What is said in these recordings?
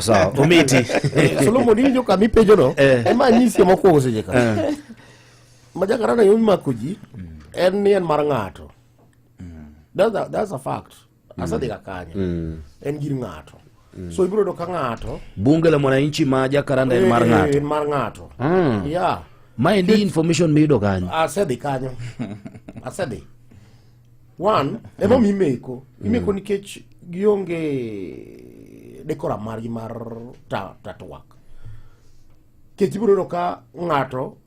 sawa omiti eh, solomon iwinjo kama ipenjono eh. ema anyisi mokwongo seche ka eh. ma jakarana yo mimako ji en ni en mar ng'ato that's a fact mm. asadhi ka kanye mm. en gir ng'ato mm. so ibiro yudo ka ng'ato bunge la mwananchi ma jakaranda en mar ng'ato en mar ng'ato ah. ya maendi information miyudo kanyo asedhi kanyo asedhi one ema omi imeko imeko mm. nikech gionge dekoram margi mar tatwak nikech ibiro yudo ka ng'ato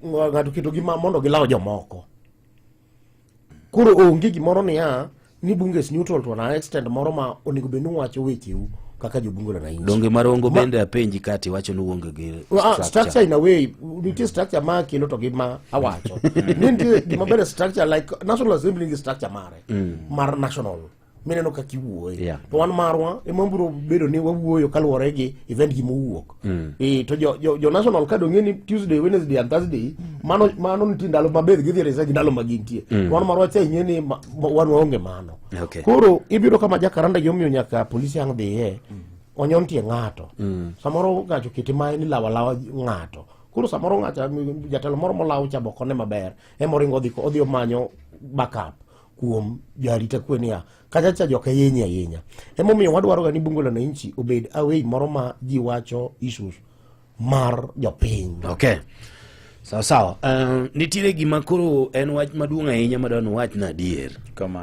ng'ato keto gi mondo gilaw jomoko koro onge gimoro niya ni bunges neutral to an extent moro ma onego bed ni wacho wecheu kaka jobungo la nainji donge marongo ma, bende apenji kati wacho ni uonge gi ah, structure. structure in a way nitie structure ma kelo to gi ma awacho ni nitie gima bende structure like national assembly ngi structure mare mm. mar national mineno kaka iwuoye yeah. to wan marwa ema biro bedo ni wawuoyo kaluwore gi event gi mowuok Mm. Eh, to jo, jo, jo national card ong'e ni tuesday wednesday and thursday mm. mano mano nitie ndalo maber gidhi resa gi ndalo ma gintie mm. wan marwa cha ing'e ni ma, ma, wan waonge mano okay. koro ibiro kama jakaranda gimomiyo nyaka polisi ang' dhiye mm. onyon tie ng'ato mm. samoro ng'ato kete mae ni lawalawa ng'ato koro samoro ng'ato jatelo moro molaw cha bokone maber emoringo odhi odhi omanyo backup kuom jarita kwe niya Kacha cha joka yenye ahinya. Emo miyo wadwaro gani bungo la nanchi obed away moro ma ji wacho issues mar jopiny. Okay. Sawa sawa. Uh, nitiere gima koro en wach maduong' ahinya madwano wach na adier. Kama.